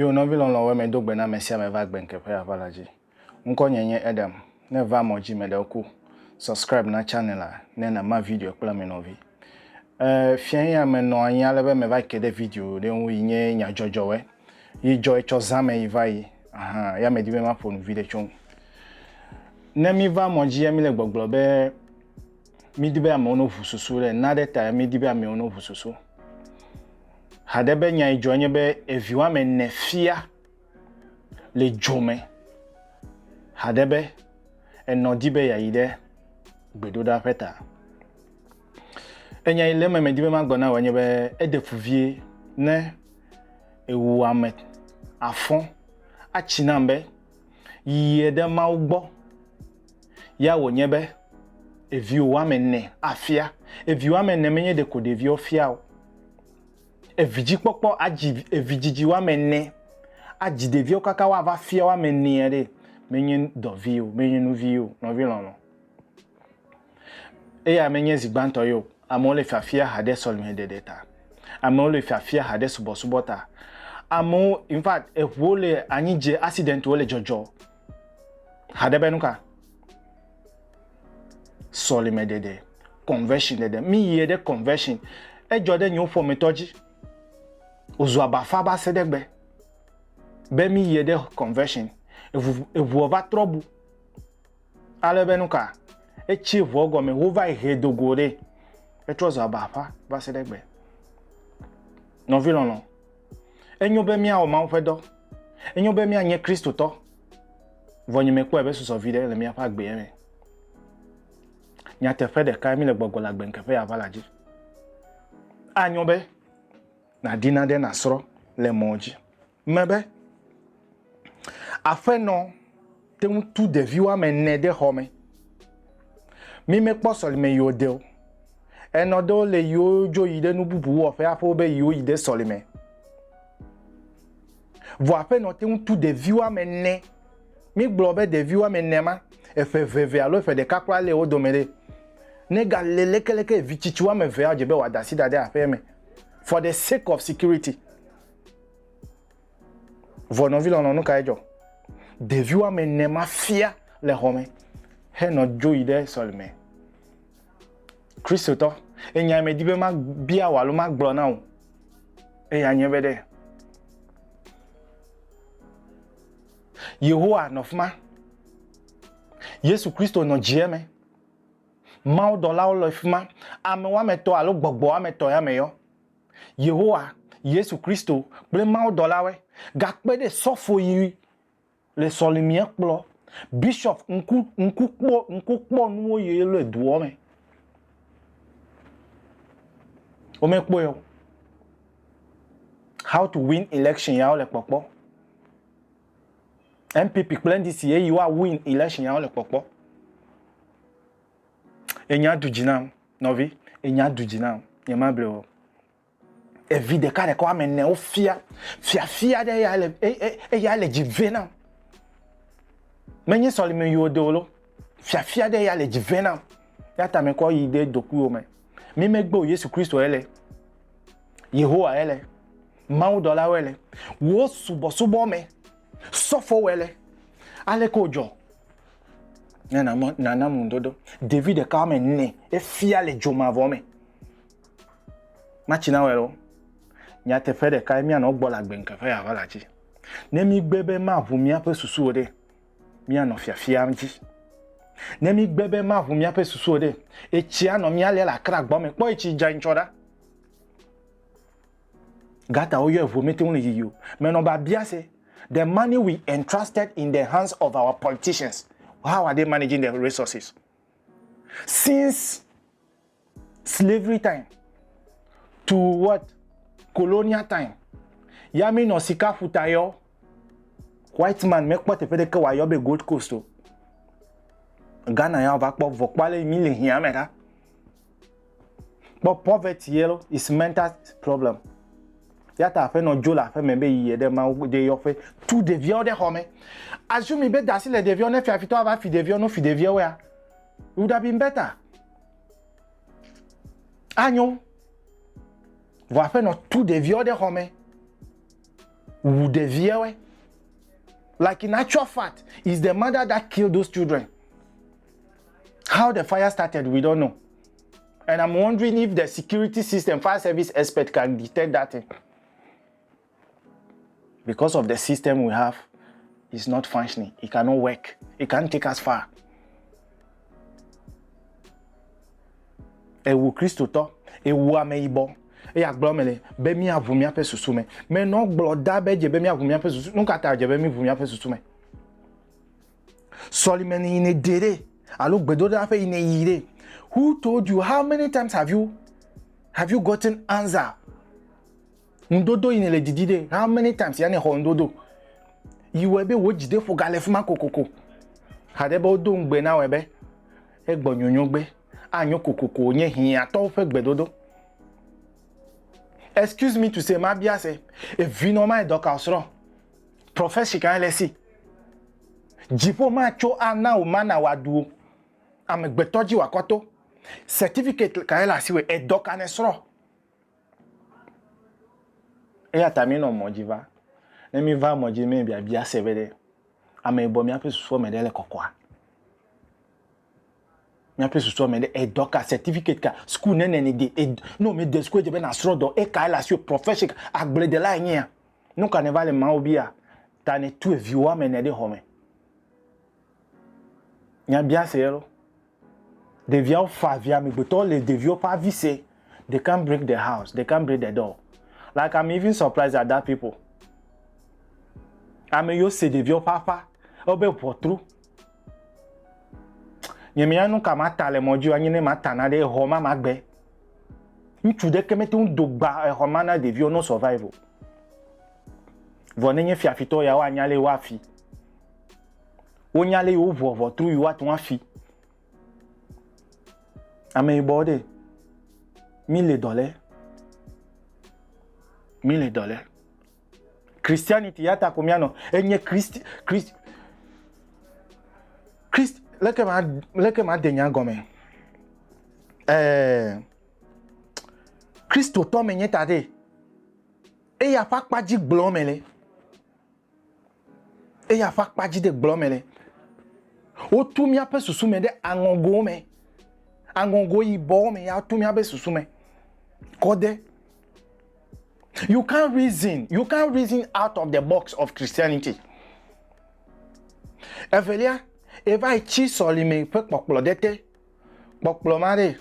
Yo nɔvi lɔlɔ̃wo me do gbe na ame sia ame va gbe ŋkeƒe ya va la dzi. Ŋkɔ nye nye Adam. Ne va mɔ dzi me ɖewo ku, subscribe na channel la ne na ma video kple ame nɔvi. E, fia ya me nɔ anyi ale be me va ke ɖe video ɖe ŋu yi nye nyadzɔdzɔwe. yi dzɔe tsɔ zã me yi va yi ahan ya medi be maƒo nu viɖe tso ŋu. Ne mi va mɔ dzi ya mi le gbɔgblɔ be mi di be amewo no ʋu susu ɖe na ɖe ta ya mi di be amewo no ʋu susu. Haɖe be nya yi dzɔe nye be evi woame ne fia le dzo me. Haɖe be enɔ di be ya yi ɖe gbedoɖa ƒe ta. Enya yi le eme medi be magblɔ na wò nye be eɖe fu vie ne ewu ame afɔ atsi nam be yie ɖe Mawu gbɔ. Ya wònye be eviwò woame ene afia. Evi woame ene menye ɖeko ɖeviwo fia o. Evidzikpɔkpɔ adzi evidzidzi woame ene adzi ɖeviwo kaka woava fia woame enea ɖe menye dɔ vi o, menye nu vi o, nɔvi lɔlɔ. Eya menye zi gbãtɔ ye o. Amewo le fiafia ha ɖe sɔlemeɖeɖe ta. Amewo le fiafia ha ɖe subɔsubɔ ta. Amewo, in fact, eŋuwo le anyi dze, accidentwo le dzɔdzɔ. Ha ɖe be nu ka? Sɔlemeɖeɖe, conversion ɖeɖe. Míyie ɖe conversion. Edzɔ ɖe yewo ƒometɔ dzi. Wòzu abafa va se ɖe egbe be míyie ɖe conversion. Eŋu, eŋuɔ va trɔ bu. Ale be nuka? Etsi ŋua gɔme wova yi he do go ɖe. Etrɔ zɔ aba ƒa va se ɖe gbe. Nɔvi lɔlɔ, enyo be míawɔ Mawu ƒe dɔ. Enyo be míanye Kristotɔ. Vɔ nye mekpɔe be susɔ vi ɖe le míaƒe agbea me. Nyateƒe ɖekae míle gbɔgbɔ le agbe ŋkeƒe ya va la dzi. Anyo be nàdi nane nasrɔ̃ le mɔ dzi. me be, Aƒenɔ te ŋu tu ɖevi woame ene ɖe xɔ me. Mi mekpɔ sɔlime yi o deo. Enɔ ɖewo le yiwo dzo yi ɖe nu bubu wɔ ƒe aƒewo be yiwo yi ɖe sɔlime. Vɔ aƒenɔ te ŋu tu ɖevi woame ene. Mi gblɔ be ɖevi woame ene ma, eƒe veve alo eƒe ɖeka kura le wo dome ɖe. Ne ga le lekeleke evi tsitsi woame eve ya dze be wòada asi ɖa ɖe aƒea me for the sake of security. Vɔ nɔvi lɔlɔ nu kae dzɔ? Ɖevi woame ne ma fia le xɔ me henɔ dzo yi ɖe sɔlime. Kristotɔ, enya me di be ma bia wò alo ma gblɔ na wò. Eya nye be ɖe Yehowa nɔ fima. Yesu Kristo nɔ dzie me. Mawu dɔlawo le fima. Ame woame tɔ alo gbɔgbɔ woame tɔ ya me yɔ. Yehowa, Yesu Kristo kple mawudɔlawe gakpe ɖe sɔfo yi le sɔlimiɛ kplɔ bishop ŋku ŋku kpɔ ŋku kpɔ nuwo yi le duɔ me. Wome kpɔe o. How to win election ya wole kpɔkpɔ. NPP kple NDC ye yi wa win election ya wole kpɔkpɔ. Enya du dzi nam. Nɔvi, enya du dzi nam, nyemable wò o. Evi ɖeka ɖeka woame ene wofia fiafia ɖe eya le eya le dzi vɛ nam. Menye sɔlime yi wode wò lo. Fiafia ɖe eya le dzi vɛ nam. Ya ta mekɔ yi ɖe dokuiwo me. Mi megbe o Yesu Kristo ele. Yehowa ele. Mawu dɔlawo ele. Wo subɔsubɔ me. Sɔfo wele. Ale ko dzɔ. Ne nana, nana ŋudodo. Ɖevi ɖeka woame ene efia le dzo mavɔ me. Matsi na wɔ lo. Nyateƒe ɖeka ye míanɔ gbɔ le agbe ŋkeƒe ya va la dzi. Ne mígbe be maʋu míaƒe susu o ɖe, míanɔ fiafia dzi. Ne mígbe be maʋu míaƒe susu o ɖe, etsia nɔ mía lia le akra gbɔ me. Kpɔ etsi dza ŋtsɔ ɖa. Gata woyɔe ʋu mete ŋu le yiyi o. Menɔ biabia se. The money we entrusted in the hands of our politicians, how are they managing the resources? Since slavery time to what? Colonial time. Ya mi nɔ sika ƒuta yɔ. White man mekpɔ teƒe ɖeke wòayɔ be Gold Coast o. Ghana ya va kpɔ vɔkpɔ ale mi le hiã me ɖa. Kpɔ poverty yellow is mental problem. Yata aƒenɔ dzo le aƒeme be yi ye ɖe Mawu de yɔƒe tu ɖeviawo ɖe xɔme. Azumi be dasi le ɖeviawo ne fiafitɔ ava fi ɖeviawo no fi ɖeviawo ya. It would have been better. Anyo. Vɔ aƒenɔ tu ɖeviawo ɖe xɔme. Wu ɖeviawo. Like in actual fact, is the mother that killed those children. How the fire started, we don't know. And I'm wondering if the security system, fire service expert can detect that thing. Because of the system we have, it's not functioning. It cannot work. It can't take us far. Ewu Kristo tɔ, ewu ame yibɔ. eya gblɔ me le be míaʋu míaƒe susu me menɔ gblɔ da be dze be míaʋu míaƒe susu nu ka ta dze be míʋu míaƒe susu me sɔlime yi ne de ɖe alo gbedoɖa ƒe yi ne yi ɖe who told you how many times have you have you gotten answer ŋudodo yi ne le didi ɖe how many times ya ne xɔ ŋudodo yi wɔ be wò dzi ɖe ƒo gale fima kokoko haɖe be wodo ŋugbe na wɔ be egbɔ nyonyo gbe anyo kokoko nye hiatɔwo ƒe gbedodo excuse me to say ma bia se evinɔ ma edɔka osrɔ. Prɔfesi kae le esi? Dziƒo matso ana wò mana wòaɖu wò. Amegbetɔ dzi wòakɔ to. Certificate kae le asiwò? Edɔ ka nèsrɔ̃? Eya ta minɔ mɔ dzi va. Ne miva mɔ dzi mɛ biabia se be ɖe ame yibɔ míaƒe susua me ɖe le kɔkɔa? Míaƒe susua me ɖe edɔ ka, certificate ka, school nene nède, ne womede school edze be nàsrɔ̃ dɔ, ekae le asiwò, profession ka, agbledelae nyea? Nu ka nèva le Mawu bia ta nètue viwò woame ene ɖe xɔme? Nya biase ye loo. Ɖeviawo faa vi, amegbetɔwo le ɖeviwo ƒe avi se, they can't break the house, they can't break the door. Like I'm even surprised at that people. Ameyiwo se ɖeviawo ƒe aƒa, wobe ʋɔtru. Nye mia nu ka ma ta le mɔ dzi anyi ne ma ta na ɖe exɔ ma ma gbe. Ŋutsu ɖe ke me to do gba exɔ ma na ɖevi o no survive o. Vɔ ne nye fiafitɔ ya wa nya le wa fi. Wo nya le yo vɔ vɔ tru yo wa tun afi. Ame yi bɔ de. Mi le dɔ le. Mi le dɔ le. Christianity ya ta ko mianɔ enye Christ Christ Christ leke ma leke ma de nya gɔme eh Christo tɔ me nye ta de eya fa kpa dzi gblɔ me le eya ƒe akpa dzi de gblɔ me le. Wotu míaƒe susu me ɖe aŋɔgo me, aŋɔgo yibɔ me ya tu míaƒe susu me kɔ de. You can't reason, you can't reason out of the box of Christianity. Evelia, eva yi tsi sɔlime ƒe kpɔkplɔ ɖe te Kpɔkplɔ ma ɖe?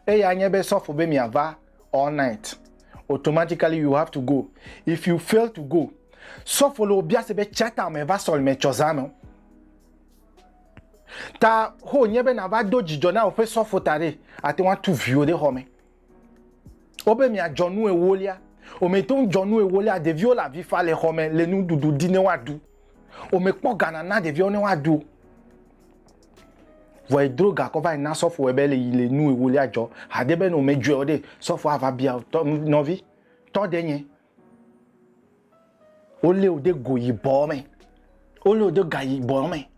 Eya nye be sɔfo be miava all night. Automatically you have to go. If you fail to go, sɔfo le wòbia se be tsata me va sɔlime tsɔ zã me. Ta ho nye be nava do dzidzɔ na wòƒe sɔfo ta ɖe, ate ŋu atu viwo ɖe xɔ me. Wobe miadzɔ nu ewolia. Womete ŋu dzɔ nu ewolia. Ɖeviwo le avi fa le xɔ me le nuɖuɖu di ne woaɖu. Womekpɔ ga nana ɖeviawo ne woaɖu o. Vɔ edro ga kɔ va yi na sɔfoe be le yi le nu ewolia dzɔ. Hade be ne womedzɔe o ɖe, sɔfoa ava bia wo tɔ nɔvi, tɔ ɖe nye. Wolé wò de go yibɔ me. Wolé wò de ga yibɔ me.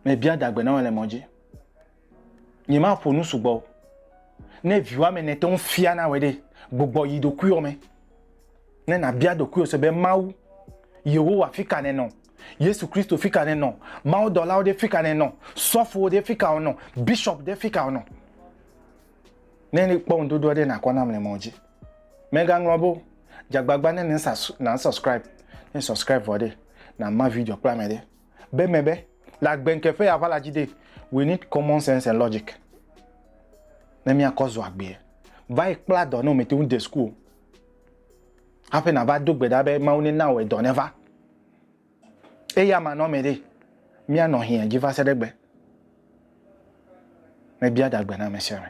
Mebia dagbe na wò le mɔ dzi. Nyemaƒo nu sugbɔ o. Ne vi woame ene te ŋu fia na wòe ɖe, gbugbɔ yi ɖokuiwò me. Ne nàbia ɖokuiwò se be Mawu, Yehowa fi ka nènɔ? Yesu Kristo fi ka nènɔ? Mawudɔlawo ɖe fi ka nènɔ? Sɔfowo ɖe fi ka wonɔ? Bishop ɖe fi ka wonɔ? Ne kpɔ ŋuɖoɖoa ɖe nàkɔ nam le mɔ dzi. Mègaŋlɔ be o. Dze agbagba ne nàsɔscribe. Ne èsɔscribe vɔ ɖe, nàma video kple ame ɖe. Be me be, le agbe ŋke ƒe aʋala dzi ɖe, we need common sense and logic ne míakɔ zɔ agbee. Va yi kpla dɔ ne womete ŋu de suku o hafi nàva do gbe ɖa be Mawu nena wò edɔ neva. Eyamanɔme ɖe, míanɔ hiã dzi va se ɖe egbe. Mebia ɖagbe na ame sia ame.